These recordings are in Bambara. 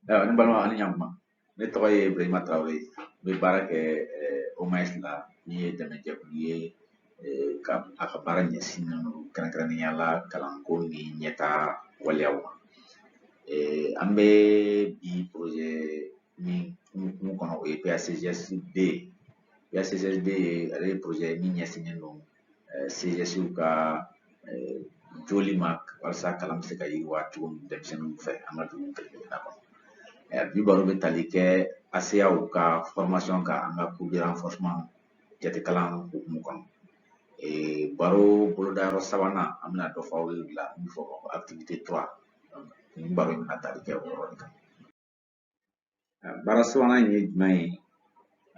ayiwa ne balima ani ɲankuma ne tɔgɔ ye ibrahima tarawele n bɛ baara kɛ omaes la min ye dɛmɛjɛkulu ye ka a ka baara ɲɛsinnen don kɛrɛnkɛrɛnnenya la kalanko ni ɲɛtaa waleyaw ma an bɛ bi projet min hukumu kɔnɔ o ye PACGSD ye PACGSD ale ye projet ye min ɲɛsinnen don eh, CGSw ka eh, jɔli ma walasa kalan bɛ se ka yiriwa cogo min denmisɛnninw fɛ an ka dugu kelen-kelenna kɔnɔ eh, bi baro bɛ tali kɛ ASEAw ka formation kan an ka cours de renforcement jatekalan hukumu kɔnɔ baro bolodayɔrɔ sabanan an bɛna dɔ fɔ aw ye o la min bɛ fɔ activité 3 nin baro in bɛna tali kɛ o yɔrɔ de kan baara sabanan in ye jumɛn ye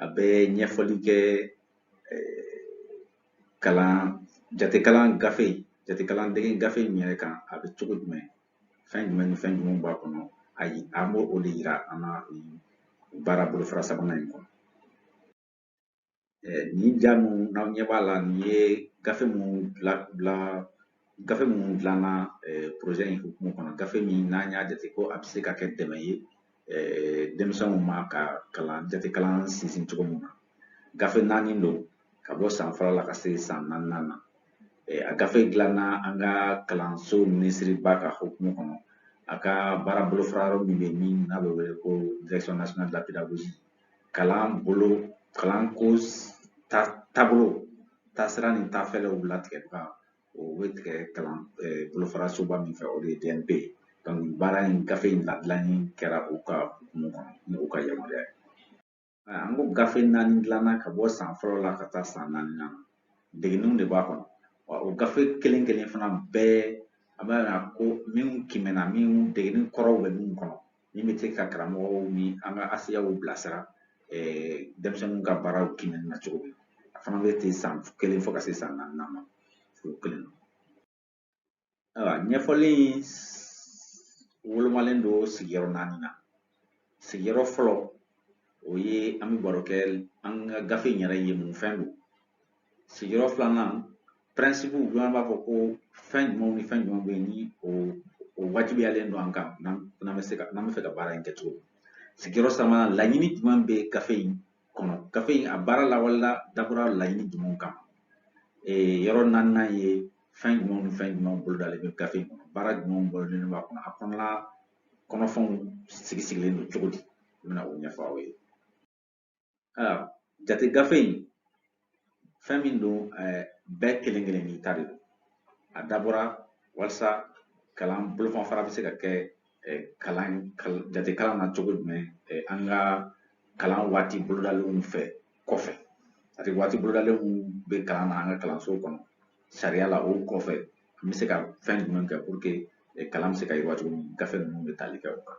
a bɛ ɲɛfɔli kɛ kalan jatekalan gafe jatekalan dege gafe in yɛrɛ kan a bɛ cogo jumɛn fɛn jumɛn ni fɛn jumɛn b'a kɔnɔ ayi an bɛ o de yira an na baara bolofara sabanan in kɔnɔ nin ja min n'aw ɲɛ b'a la nin ye gafe min dila gafe min dilanna projet in hukumu kɔnɔ gafe min n'an y'a jate ko a bɛ se ka kɛ dɛmɛ ye denmisɛnw ma ka kalan jatekalan sinsin cogo min na gafe naani don ka bɔ san fɔlɔ la ka se san naaninan na a gafe dilanna an ka kalanso minisiriba ka hukumu kɔnɔ a ka baara bolofara yɔrɔ min bɛ min n'a bɛ wele ko direction nationale de la pédagogie kalan bolo kalanko taabolo taasira ni taafɛɛrɛw latigɛbaga o bɛ tigɛ kalan bolofara soba min fɛ o de ye DNP ye baara in gafe in ladilanni kɛra u ka hukumu kɔnɔ ni u ka yamaruya ye an ko gafe naani dilanna ka bɔ san fɔlɔ la ka taa san naaninan na degeninw de b'a kɔnɔ wa o gafe kelen kelen fana bɛɛ an b'a yira ko minnu kiimɛna minnu degenin kɔrɔw bɛ minnu kɔnɔ min bɛ se ka karamɔgɔw ni an ka ASEAw bilasira denmisɛnninw ka baaraw kiimɛni na cogo min a fana bɛ ten san kelen fo ka se san naaninan ma o kelen ayiwa ɲɛfɔli in wolomalen don sigiyɔrɔ naani na sigiyɔrɔ fɔlɔ o ye an bɛ baro kɛ an ka gafe in yɛrɛ ye mun fɛn don sigiyɔrɔ filanan pɛrɛnsipuw dɔ an b'a fɔ ko fɛn jumɛnw ni fɛn jumɛnw bɛ yen ni o wajibiyalen don an kan n'an bɛ fɛ ka baara in kɛ cogo min sigiyɔrɔ sabanan laɲini jumɛn bɛ gafe in kɔnɔ gafe in a baara lawalela dabɔra laɲini jumɛnw kama yɔrɔ naaninan ye fɛn jumɛnw ni fɛn jumɛnw bolodalen bɛ gafe in kɔnɔ baara jumɛnw bolodalen b'a kɔnɔ a kɔnɔna kɔnɔfɛnw sigi sigilen don cogo di n bɛna o ɲɛfɔ aw ye Aa jate gafe in fɛn min don ɛɛ bɛɛ kelen kelen n'i ta de don a dabɔra walasa kalan bolomafara bɛ se ka kɛ kalan jate kalan na cogo jumɛn an ka kalan waati bolodalenw fɛ kɔfɛ c'est-à-dire waati bolodalenw bɛ kalan na an ka kalanso kɔnɔ sariya la o kɔfɛ an bɛ se ka fɛn jumɛn kɛ pour que kalan bɛ se ka yiriwa cogo min gafe ninnu bɛ tali kɛ o kan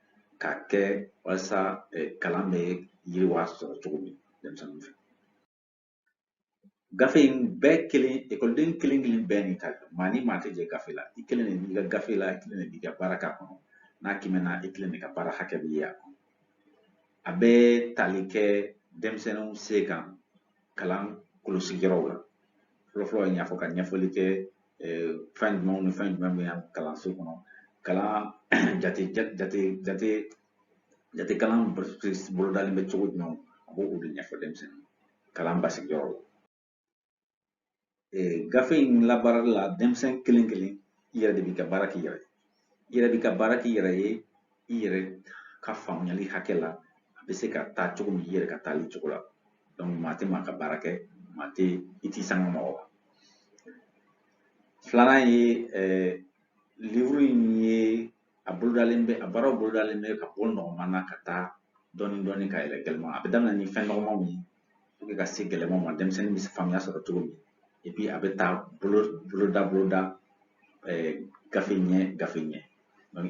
ka kɛ walasa kalan bɛ yiriwa sɔrɔ cogo min denmisɛnninw fɛ gafe in bɛɛ kelen ekɔliden kelen kelen bɛɛ n'i ka maa ni maa tɛ jɛ gafe la i kelen de b'i ka gafe la i kelen de b'i ka baara k'a kɔnɔ n'a kiimɛna i kelen de ka baara hakɛ bɛ ye a kɔnɔ a bɛ tali kɛ denmisɛnninw se kan kalan kɔlɔsi yɔrɔw la fɔlɔfɔlɔ n y'a fɔ ka ɲɛfɔli kɛ fɛn jumɛnw ni fɛn jumɛn bɛ yan kalanso kɔnɔ kalan jate jate jate jate kalan bolodalen bɛ cogo jumɛn a b'o o de ɲɛfɔ denmisɛnnin kalan basigiyɔrɔ la gafe in labaarali la denmisɛn kelen kelen i yɛrɛ de b'i ka baara k'i yɛrɛ ye i yɛrɛ b'i ka baara k'i yɛrɛ ye i yɛrɛ ka faamuyali hakɛ la a bɛ se ka taa cogo min i yɛrɛ ka taali cogo la donc maa tɛ maa ka baara kɛ maa tɛ i t'i sanga mɔgɔ ma filanan ye livuru in ye a bolodalen bɛ a baaraw bolodalen bɛ ka bɔ nɔgɔman na ka taa dɔɔnin dɔɔnin ka yɛlɛn gɛlɛman a bɛ daminɛ ni fɛn nɔgɔmanw ye pour que ka se gɛlɛmanw ma denmisɛnnin bɛ faamuya sɔrɔ cogo min et puis a bɛ taa bolo boloda boloda eh, gafe ɲɛ gafe ɲɛ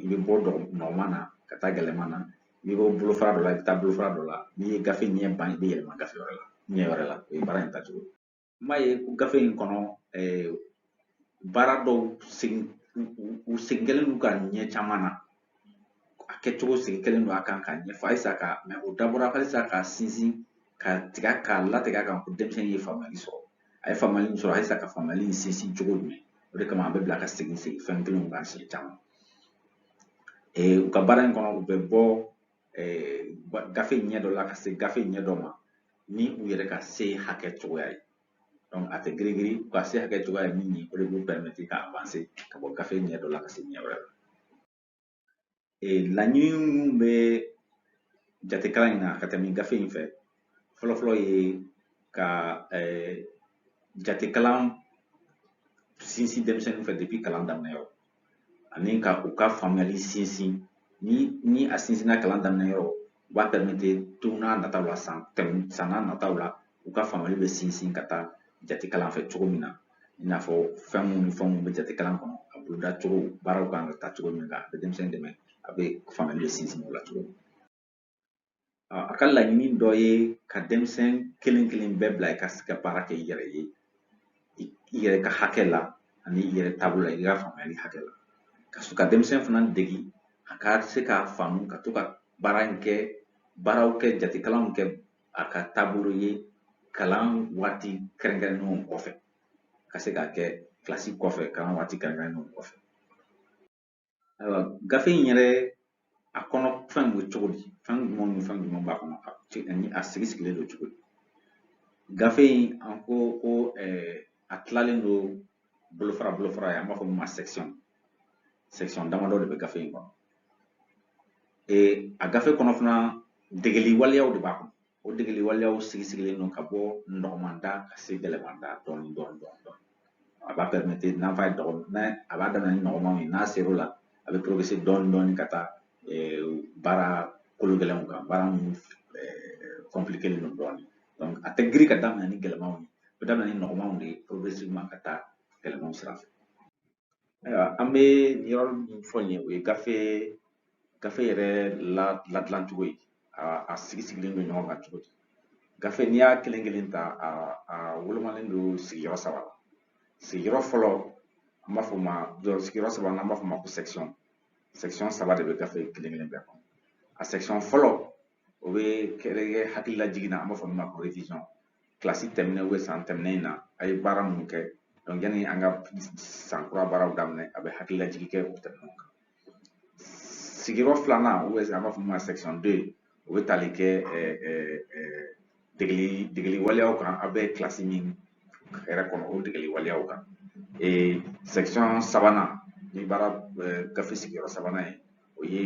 i bɛ bɔ nɔgɔman na ka taa gɛlɛman na i bɛ bɔ bolofara dɔ la i bɛ taa bolofara dɔ la n'i ye gafe ɲɛ ban i bɛ yɛlɛma gafe wɛrɛ la ɲɛ wɛrɛ la o ye baara in tacogo ye n m'a ye ko gafe in kɔnɔ baara dɔw segin u segin kɛlen don ka ɲɛ caman na a kɛcogo segin kɛlen don a kan ka ɲɛfɔ halisa ka mɛ o dabɔra halisa ka sinsin ka tiga k'a latigɛ a kan ko denmisɛnnin ye faamuyali sɔrɔ a ye faamuyali min sɔrɔ halisa ka faamuyali in sinsin cogo jumɛn o de kama an b'u bila ka segin segin fɛn kelenw kan siɲɛ caman u ka baara in kɔnɔ u bɛ bɔ gafe ɲɛ dɔ la ka se gafe ɲɛ dɔ ma ni u yɛrɛ ka se hakɛ cogoya ye donc a tɛ girigiri u ka se hakɛ cogoya ye min ye o de b'u pɛrɛmɛti ka avanse ka bɔ gafe ɲɛ dɔ la ka se ɲɛ wɛrɛ ma laɲini minnu bɛ jatekalan in na ka tɛmɛ gafe in fɛ fɔlɔfɔlɔ ye ka jatekalan sinsin denmisɛnninw fɛ depuis kalan daminɛ yɔrɔ ani ka u ka faamuyali sinsin ni ni a sinsinna kalan daminɛ yɔrɔ o b'a pɛrɛmɛti don n'a nataw la san tɛmɛ san n'a nataw la u ka faamuyali bɛ sinsin ka taa jate kalan fɛ cogo min na i n'a fɔ fɛn minnu ni fɛn minnu bɛ jate kalan kɔnɔ a boloda cogo baaraw kan ka taa cogo min na a bɛ denmisɛnnin dɛmɛ a bɛ faamuyali bɛ sinsin o la cogo min A ka laɲini dɔ ye ka denmisɛn kelen kelen bɛɛ bila i ka se ka baara kɛ i yɛrɛ ye i yɛrɛ ka hakɛ la ani i yɛrɛ taabolo la i ka faamuyali hakɛ la ka sɔrɔ ka denmisɛn fana degi a ka se k'a faamu ka to ka baara in kɛ baaraw kɛ jatekalanw kɛ a ka taabolo ye kalan waati kɛrɛnkɛrɛnnenw kɔfɛ ka se k'a kɛ kilasi kɔfɛ kalan waati kɛrɛnkɛrɛnnenw kɔfɛ Ayiwa gafe in yɛrɛ a kɔnɔ fɛn bɛ cogo di fɛn jumɛn ni fɛn jumɛn b'a kɔnɔ ani a sigi sigilen don cogo di gafe in an ko ko a tilalen don bolofara bolofara ye an b'a fɔ min ma section section damadɔ de bɛ gafe in kɔnɔ a gafe kɔnɔ fana degeli waleyaw de b'a kɔnɔ O degeli waleyaw sigi sigilen don ka bɔ nɔgɔman da ka se gɛlɛman da dɔɔni dɔɔni dɔɔni dɔɔni. A b'a pɛrimete n'a fɔ a b'a daminɛ ni nɔgɔmanw ye n'a ser'o la a bɛ progresser dɔɔni dɔɔni ka taa baara kolo gɛlɛnw kan baara minnu kɔnpilikelen don dɔɔni. Donc a tɛ girin ka daminɛ ni gɛlɛmanw ye. A bɛ daminɛ ni nɔgɔmanw de ye progressivement ka taa gɛlɛmanw sira fɛ. Ayiwa an bɛ yɔrɔ min fɔ nin ye o ye gafe gafe yɛrɛ ladilan cogo ye a a sigi sigilen don ɲɔgɔn kan cogo di gafe n'i y'a kelen kelen ta a a wolomalen don sigiyɔrɔ saba la sigiyɔrɔ fɔlɔ an b'a fɔ o ma sigiyɔrɔ saba n'an b'a fɔ o ma ko section section saba de bɛ gafe kelen kelen bɛɛ kɔnɔ a section fɔlɔ o bɛ kɛ hakililajigin na an b'a fɔ min ma ko révision kilasi tɛmɛnen ou bien san tɛmɛnen in na a ye baara minnu kɛ donc yanni an ka san kura baaraw daminɛ a bɛ hakililajigin kɛ o tɛmɛnenw kan sigiyɔrɔ filanan ou bien an b'a fɔ min ma section deux o bɛ tali kɛ degeli degeli waleyaw kan a bɛ kilasi min yɛrɛ kɔnɔ o degeli waleyaw kan section sabanan ni baara gafe sigiyɔrɔ sabanan ye o ye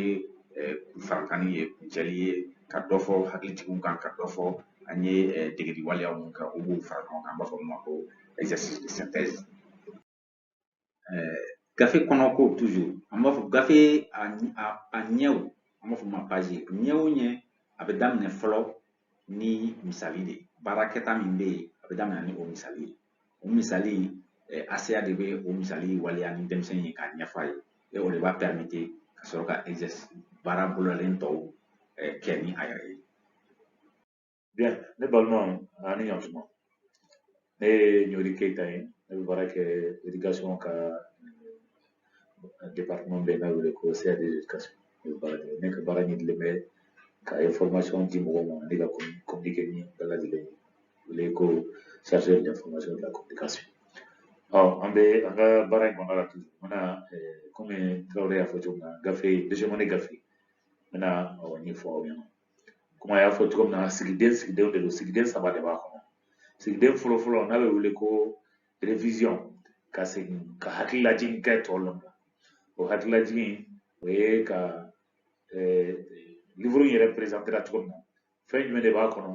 farankanni ye kuncɛli ye ka dɔ fɔ hakilijigin kan ka dɔ fɔ an ye degeli waleya minnu kɛ o b'u fara ɲɔgɔn kan an b'a fɔ min ma ko exercice de synthèse gafe kɔnɔko toujours an b'a fɔ gafe a ɲɛw an b'a fɔ o ma page ɲɛ o ɲɛ a bɛ daminɛ fɔlɔ ni misali de ye baara kɛta min bɛ yen a bɛ daminɛ ni o misali ye o misali ACA de bɛ o misali waleya ni denmisɛn ye k'a ɲɛfɔ a ye o de b'a pɛrimete ka sɔrɔ ka baara bolodalen tɔw kɛ ni a yɛrɛ ye bien ne balimaw ani ɲantuma ne ye ɲori keyita ye ne bɛ baara kɛ éducation ka département bɛ n'a wele ko CA de l'éducation ne bɛ baara kɛ ne ka baara ɲɛsinnen bɛ ka information di mɔgɔw ma ani ka communiquer ni bɛɛ lajɛlen ye wele ko chargé de l'information de la communication ɔ an bɛ an ka baara in kɔnɔna la tugun n bɛna kɔmi tarawele y'a fɔ cogo min na gafe deuxième année gafe n bɛna ɲɛfɔ aw ɲɛna komi a y'a fɔ cogo min na sigiden sigidenw de don sigiden saba de b'a kɔnɔ sigiden fɔlɔfɔlɔ n'a bɛ wele ko révision ka segin ka hakililajigin kɛ tɔw la o hakililajigin o ye ka eh, livuru in yɛrɛ perezantera cogo min na fɛn jumɛn de b'a kɔnɔ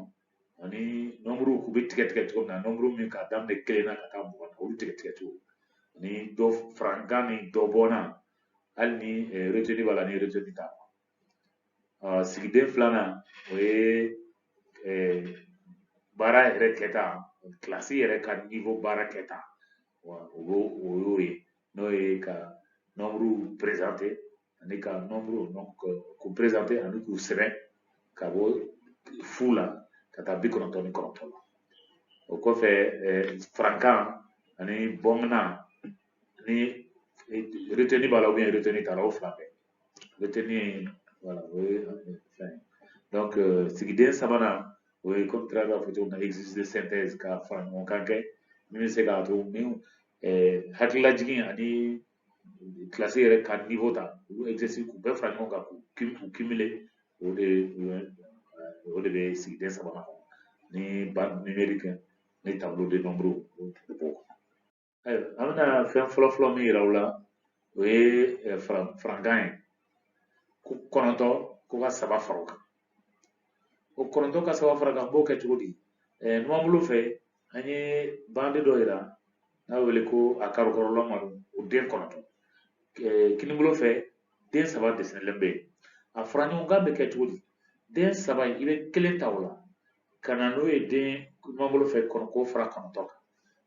ani nɔnburuw k'u bɛ tigɛ tigɛ cogo min na nɔnburu min k'a daminɛ kelen na ka taa mugan na olu tigɛ tigɛ cogo ani dɔ farankan ni dɔ bɔnna hali ni eh, retenu b'a la ni retenu t'a la Ɔ sigiden filanan o ye baara yɛrɛ kɛta kilasi yɛrɛ ka niwo baara kɛta o o y'o ye n'o ye ka nɔnburuw perezante ani ka nɔnburuw k'u perezante ani k'u sɛbɛn ka bɔ fu la ka taa bi kɔnɔntɔn ni kɔnɔntɔn la o kɔfɛ farankan ani bɔnna ni reteni b'a la ou bien reteni t'a la o fila bɛɛ retenu voilà o ye fɛn ye donc euh, sigiden sabanan o ye komi tara b'a fɔ cogo min na exercice de synthèse ka fara ɲɔgɔn kan kɛ min bɛ se k'a to ni euh, hakililajigin ani kilasi yɛrɛ ka niveau ta olu exercice k'u bɛɛ fara ɲɔgɔn kan k'u k'u cumuler o de o de bɛ sigiden sabanan kɔnɔ ni bande numérique ni tableau de nombre o b'o kɔnɔ ayiwa an bɛna fɛn fɔlɔ fɔlɔ min yira u la o ye eh, farankan ye ko kɔnɔntɔn ko ka saba fara o kan o kɔnɔntɔn ka saba fara kan n b'o kɛ cogo di eh, numanbolo fɛ an ye bande dɔ yira n'a bɛ wele ko a karo kulɛrilama o den kɔnɔntɔn eh, kinibolo fɛ den saba desinelen bɛ yen a fara ɲɔgɔn kan bɛ kɛ cogo di den saba in i bɛ kelen ta o la ka na n'o ye den numanbolo fɛ k'o fara kɔnɔntɔn kan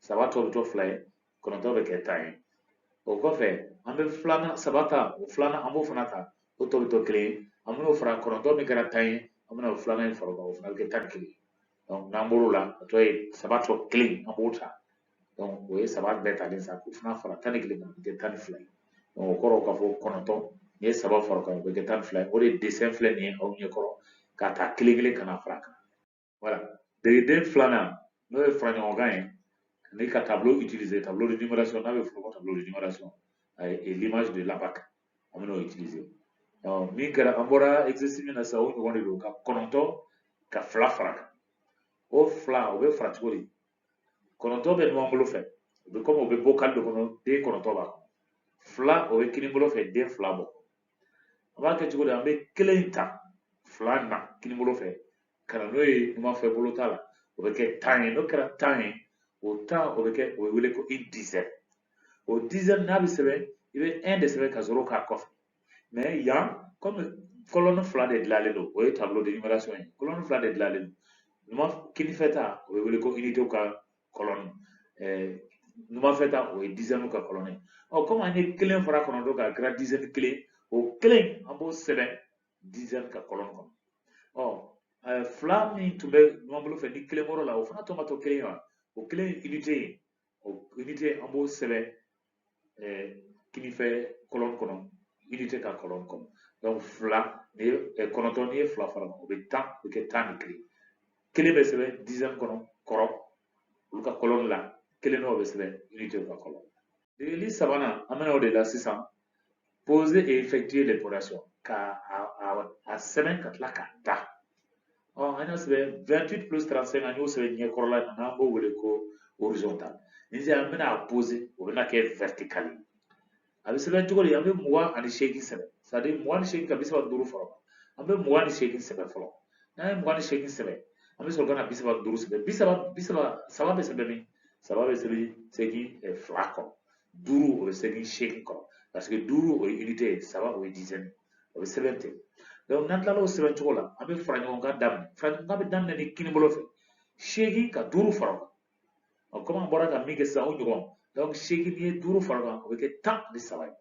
saba tɔ bɛ to fila ye kɔnɔntɔn bɛ kɛ tan ye o kɔfɛ an bɛ filanan saba ta o filanan an b'o fana ta o tɔ bɛ to kelen ye an bɛn'o fara kɔnɔntɔn min kɛra tan ye an bɛna o filanan in fara o kan o fana bɛ kɛ tan ni kelen n'an bɔr'o la a tɔ ye saba tɔ kelen an b'o ta o ye saba bɛɛ talen sa k'o fana fara tan ni kelen kan o bɛ kɛ tan ni fila ye o kɔrɔ k'a fɔ kɔnɔntɔn n'i ye saba fara o kan o bɛ kɛ tan ni fila ye o de dessin filɛ nin ye aw ɲɛ kɔrɔ k'a ta kelen kelen ka na fara a kan voilà degeden filanan n'o ye faraɲɔgɔnkan ye ni ka tableau utiliser tableau de numération n'a bɛ f'o ma tableau de numération et l'image de l'abaque an bɛn'o utiliser ɔ min kɛra an bɔra exercice min na sisan o ɲɔgɔn de don ka kɔnɔntɔn ka fila fara kan o fila o bɛ fara cogo di kɔnɔntɔn bɛ numan bolo fɛ o bɛ komi o bɛ bocal de kɔnɔ den kɔnɔntɔn b'a kɔnɔ fila o bɛ kini bolo fɛ den fila bɔ an b'a kɛ cogo di an bɛ kelen ta fila na kini bolo fɛ ka na n'o ye numan fɛ bolo ta la o bɛ kɛ tan ye n'o kɛra tan ye o tan o bɛ kɛ o bɛ wele ko une dizaine o dizaine n'a bɛ sɛbɛn i bɛ un de sɛbɛn ka zéro k'a kɔfɛ mais yan kɔmi colonne fila de dilanlen don o ye tableau de numération ye colonne fila de dilanlen don numan kinifɛ ta o bɛ wele ko unitéw ka colonne numanfɛ ta o ye dizainew ka colonne ye ɔ kɔmi an ye kelen fara kɔnɔntɔn kan a kɛra dizaine kelen o kelen an b'o sɛbɛn dizaine ka colonne kɔnɔ ɔ fila min tun bɛ numan bolo fɛ ni kelen bɔr'o la o fana tɔ ma to kelen ye wa o kelen ye unité ye o unité an b'o sɛbɛn kinifɛ colonne kɔnɔ unité ka colonne kɔnɔ donc fila n'i ye kɔnɔntɔn n'i ye fila fara o bɛ tan o bɛ kɛ tan ni kelen kelen bɛ sɛbɛn dizaine kɔnɔ kɔrɔ olu ka colonne la kelen dɔ bɛ sɛbɛn unitéw ka colonne degeli sabanan an bɛna o de la sisan poser et effectuer l'opération ka a, a, a sɛbɛn ka tila k'a da ɔ an y'a sɛbɛn 28 plus 35 an y'o sɛbɛn ɲɛkɔrɔla in na n'an b'o wele ko horizontal ni sisan an bɛna a poser o bɛna kɛ vertical ye a bɛ sɛbɛn cogo di an bɛ mugan ani seegin sɛbɛn c'est à dire mugan ni seegin ka bi saba duuru fara an bɛ mugan ni seegin sɛbɛn fɔlɔ n'an ye mugan ni seegin sɛbɛn an bɛ sɔrɔ ka na bi saba duuru sɛbɛn bi saba bi saba saba bɛ sɛbɛn min saba bɛ sɛbɛn seegin fila kɔrɔ duuru o bɛ sɛbɛn seegin kɔrɔ parce que duuru o ye unité ye saba o ye dizaine o bɛ sɛbɛn ten donc n'an tilala o sɛbɛn cogo la an bɛ fara ɲɔgɔn kan daminɛ fara ɲɔgɔn kan bɛ daminɛ ni kini bolo fɛ seegin ka duuru fara o kan ɔ komi an bɔra ka min kɛ sisan o ɲɔgɔn donc seegin n'i ye duuru fara o kan o bɛ kɛ tan ni saba ye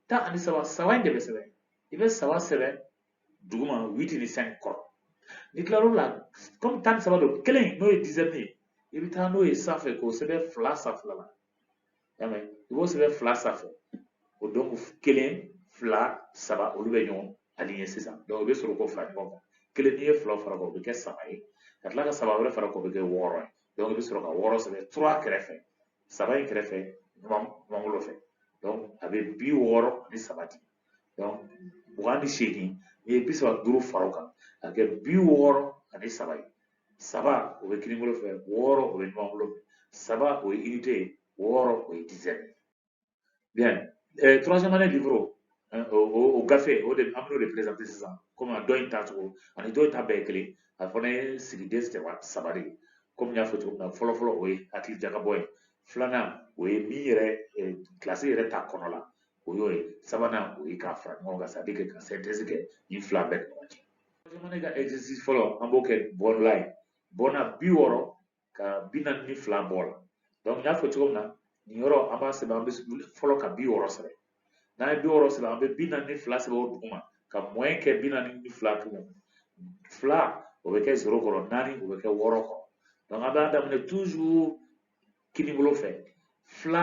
tan ani saba saba in de bɛ sɛbɛn i bɛ saba sɛbɛn duguma huit ni cinq kɔrɔ n'i tilal'o la kɔmi tan ni saba don kelen n'o ye dizaine ye i bɛ taa n'o ye sanfɛ k'o sɛbɛn fila sanfɛla la y'a mɛn i b'o sɛbɛn fila sanfɛ o dɔnku kelen fila saba olu bɛ ɲɔgɔn aligné sisan dɔnku i bɛ sɔrɔ k'o fara ɲɔgɔn kan kelen n'i ye fila fara kan o bɛ kɛ saba ye ka tila ka saba wɛrɛ fara kan o bɛ kɛ wɔɔrɔ ye dɔnku i bɛ sɔrɔ ka wɔɔrɔ sɛbɛn trois kɛrɛfɛ saba in kɛrɛfɛ numanbolo fɛ dɔnku a bɛ bi wɔɔrɔ ni saba di dɔnku mugan ni seegin n'i ye bi saba duuru fara o kan a bɛ kɛ bi wɔɔrɔ ani saba ye saba o bɛ kinibolo fɛ wɔɔrɔ o bɛ numanbolo fɛ saba o ye unité ye wɔɔrɔ o ye dizaine bien troisième année livre o gafe o de an b'o de présenter sisan komi a dɔ in ta cogo ani dɔ in ta bɛɛ ye kelen a fana ye sigiden saba saba de ye komi n y'a fɔ cogo min na fɔlɔ fɔlɔ o ye hakili jagabɔ ye filanan o ye min yɛrɛ kilasi yɛrɛ ta kɔnɔ la o y'o ye sabanan o ye k'a fara ɲɔgɔn kan c'est-à-dire que ka synthèse kɛ nin fila bɛɛ ni ɲɔgɔn cɛ troisième année ka exercice fɔlɔ an b'o kɛ bɔnla ye bɔnna bi wɔɔrɔ ka bi naani ni fila bɔ la donc n y'a fɔ cogo min na nin yɔrɔ an b'a sɛbɛn an bɛ fɔlɔ ka bi wɔɔrɔ sɛbɛn n'an ye bi wɔɔrɔ sɛbɛn an bɛ bi naani ni fila sɛbɛn o duguma ka moins kɛ bi naani ni fila tugun fila o bɛ kɛ zéro kɔrɔ naani o bɛ kɛ wɔɔrɔ kɔrɔ donc an b'a daminɛ toujours kinibolo fɛ fila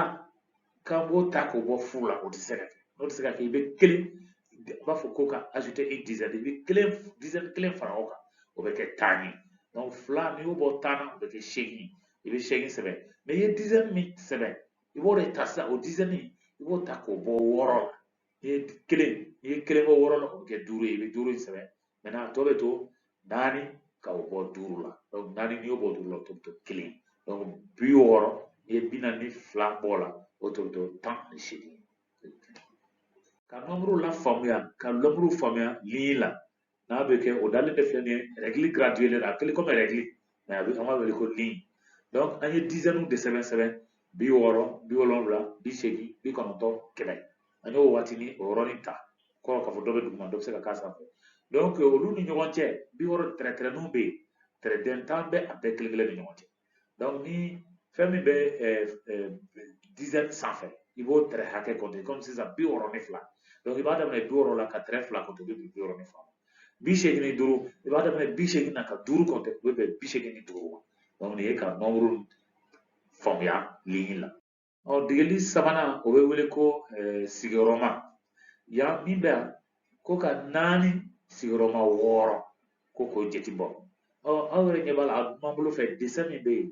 k'an b'o ta k'o bɔ fu la o tɛ se ka kɛ n'o tɛ se ka kɛ i bɛ kelen i b'a fɔ ko ka ajouter une dizaine i bɛ kelen dizaine kelen fara o kan o bɛ kɛ tan ye donc fila n'i y'o bɔ tan na o bɛ kɛ seegin i bɛ seegin sɛbɛn mais i ye dizaine min sɛbɛn i b'o de ta sisan o dizaine i b'o ta k'o bɔ wɔɔrɔ la n'i ye kelen n'i ye kelen bɔ wɔɔrɔ la o bɛ kɛ duuru ye i bɛ duuru in sɛbɛn maintenant tɔ bɛ to naani ka o bɔ duuru la donc naani n'i y'o bɔ duuru la o tɔ bɛ to kelen donc bi wɔɔrɔ n'i ye bi naani ni fila bɔ o la o tɔ bɛ to tan ni seegin ka nombre lafaamuya ka nombre faamuya ligne la n'a bɛ kɛ o dalen de filɛ nin ye règle graduelen a kɛlen komi règle mais a bɛ an b'a wele ko ligne donc an ye dizaine de sɛbɛn sɛbɛn bi wɔɔrɔ bi wolonwula bi seegin bi kɔnɔntɔn kɛmɛ an y'o waatini o yɔrɔnin ta kɔrɔ k'a fɔ dɔ bɛ duguma dɔ bɛ se ka k'a sanfɛ donc olu ni ɲɔgɔn cɛ bi wɔɔrɔ tɛrɛtɛrɛninw bɛ yen tɛrɛden tan bɛ a bɛɛ kelen kelen ni ɲɔgɔn cɛ donc ni fɛn min bɛ dizaine sanfɛ i b'o tɛrɛ hakɛ compter komi sisan bi wɔɔrɔ ni fila donc i b'a daminɛ bi wɔɔrɔ la ka tɛrɛ fila compter o bɛ bɛn bi wɔɔrɔ ni fila ma bi seegin ni duuru i b'a daminɛ bi seegin na ka duuru compter o bɛ bɛn bi seegin ni duuru ma donc nin ye ka nombre faamuya ligne la ɔ degeli sabanan o bɛ wele ko sigiyɔrɔma yan min bɛ yan ko ka naani sigiyɔrɔma wɔɔrɔ ko k'o jate bɔ ɔ aw yɛrɛ ɲɛ b'a la a b'an bolo fɛ dessin min bɛ yen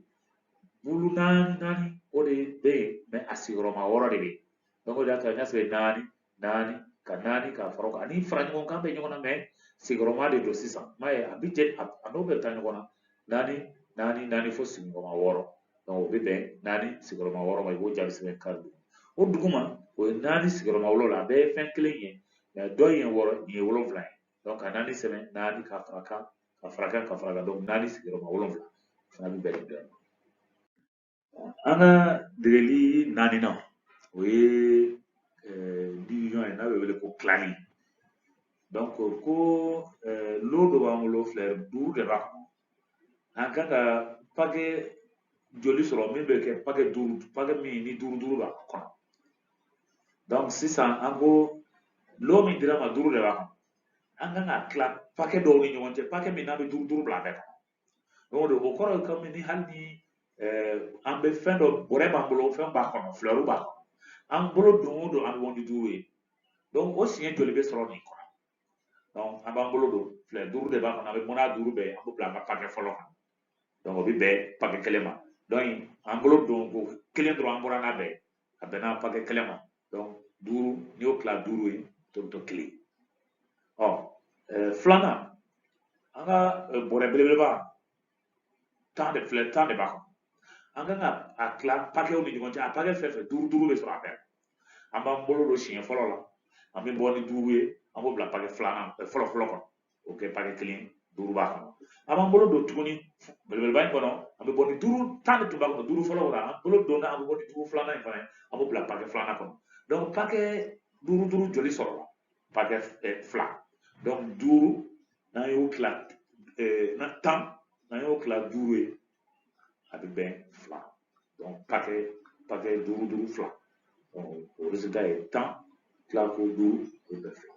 bulu naani naani o de bɛ yen mais a sigiyɔrɔma wɔɔrɔ de bɛ yen donc o de y'a to an y'a sɛbɛn naani naani ka naani ka fara kan ani fara ɲɔgɔn kan bɛ ɲɔgɔn na mais sigiyɔrɔma de don sisan m'a ye a bɛ jɛ a n'o bɛ taa ɲɔgɔn na naani naani naani fo sigiyɔrɔma wɔɔrɔ o bɛ bɛn naani sigiyɔrɔma wɔɔrɔ ma i b'o jaabi sɛbɛn kari duuru o duguma o ye naani sigiyɔrɔma wolonwula a bɛɛ ye fɛn kelen ye mais dɔ in ye wɔɔrɔ nin ye wolonwula ye donc ka naani sɛbɛn naani ka fara kan ka fara kan ka fara kan donc naani sigiyɔrɔma wolonwula o fana bɛ bɛn nin dɔ in ma An ka degeli naaninan o ye division ye n'a bɛ wele ko tilali donc ko lot dɔ b'an bolo fleur duuru de b'a kɔnɔ an kan ka pake joli sɔrɔ min bɛ kɛ pake duuru pake min ni duuru duuru b'a kɔnɔ donc sisan an ko lot min dir'an ma duuru de b'a kɔnɔ an kan k'a tila pake dɔw ni ɲɔgɔn cɛ pake min n'a bɛ duuru duuru bila a bɛɛ kɔnɔ o donc o kɔrɔ ye kɔmi ni hali ni an bɛ fɛn dɔ bɔrɛ b'an bolo fɛn b'a kɔnɔ fleur b'a kɔnɔ an bolo don o don an bɛ bɔ ni duuru ye donc o siɲɛ joli bɛ sɔrɔ nin kɔnɔ donc an b'an bolo don fleur duuru de b'a kɔnɔ an bɛ bɔ n'a duuru bɛɛ an b'o bila an ka pakɛ fɔlɔ kan donc o bɛ bɛn pakɛ kelen ma donc an bolo don ko kelen dɔrɔn an bɔra n'a bɛɛ a bɛnna pakɛ kelen ma donc duuru n'i y'o tila duuru ye tɔ bɛ to kelen ɔ filanan an ka bɔrɛ belebeleba tan de fleur tan de b'a kɔnɔ an kan ka a tila pakɛw ni ɲɔgɔn cɛ a pakɛ fɛn fɛn duuru duuru bɛ sɔrɔ a bɛɛ an b'an bolo don siɲɛ fɔlɔ la an bɛ bɔ ni duuru ye an b'o bila pakɛ filanan fɔlɔ fɔlɔ kɔnɔ o kɛ pakɛ kelen duuru b'a kɔnɔ an b'an bolo don tuguni belebeleba in kɔnɔ an bɛ bɔ ni duuru tan de tun b'a kɔnɔ duuru fɔlɔ kɔnɔ an bolo donna an bɛ bɔ ni duuru filanan in fana ye an b'o bila pakɛ filanan kɔnɔ donc pakɛ duuru duuru joli sɔrɔla pakɛ fila donc duuru n'an y'o tila tan n'an y'o tila duuru ye a bɛ bɛn fila donc pakɛ pakɛ duuru duuru fila o résultat ye tan tila ko duuru o bɛ bɛn fila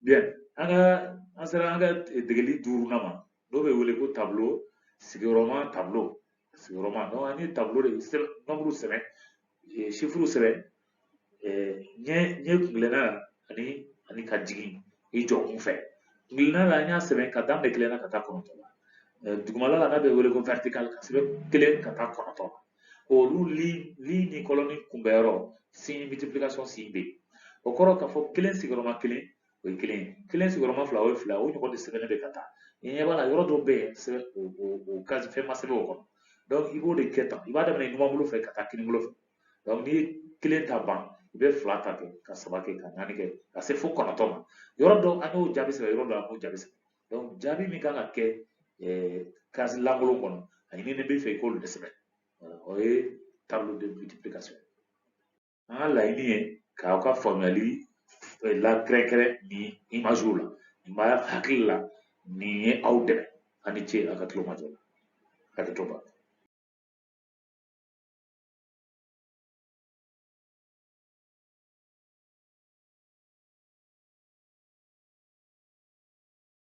Bien, an ka an sera an ka degeli duurunan ma n'o bɛ wele ko tableau sigiyɔrɔma tableau sigiyɔrɔma donc an ye tableau de nombre sɛbɛn chiffre sɛbɛn ɲɛ ɲɛ kuntilenna ani ani ka jigin i jɔ kun fɛ kuntilenna la an y'a sɛbɛn k'a daminɛ kelen na ka taa kɔnɔntɔn la dugumala la n'a bɛ wele ko vertical k'a sɛbɛn kelen ka taa kɔnɔntɔn olu ligne ni colonne kunbɛnyɔrɔ signe multiplication signe bɛ yen o kɔrɔ k'a fɔ kelen sigiyɔrɔma kelen o ye kelen kelen sigiyɔrɔma fila o ye fila o ɲɔgɔn de sɛbɛnnen bɛ ka taa i ɲɛ b'a la yɔrɔ dɔw bɛ yen sɛbɛn o o o case fɛn ma sɛbɛn o kɔnɔ donc i b'o de kɛ tan i b'a daminɛ numan bolo fɛ ka taa kinin bolo fɛ donc n'i ye kelen ta ban i bɛ fila ta kɛ ka saba kɛ ka naani kɛ ka se fo kɔnɔntɔn ma yɔrɔ dɔw an y'o jaabi sɛbɛn yɔrɔ dɔw an m'o jaabi sɛbɛn donc jaabi min kan ka kɛ eh, case lankolon kɔnɔ a ɲininen b'i fɛ i k'olu de sɛbɛn o ye tableau de multiplication an ka laɲini ye k'aw ka faamuyali eh, lakɛrɛnkɛrɛn nin imagew la nin b'a hakili la nin ye aw dɛmɛ a ni ce a ka tulo majɔ la hakɛto b'a la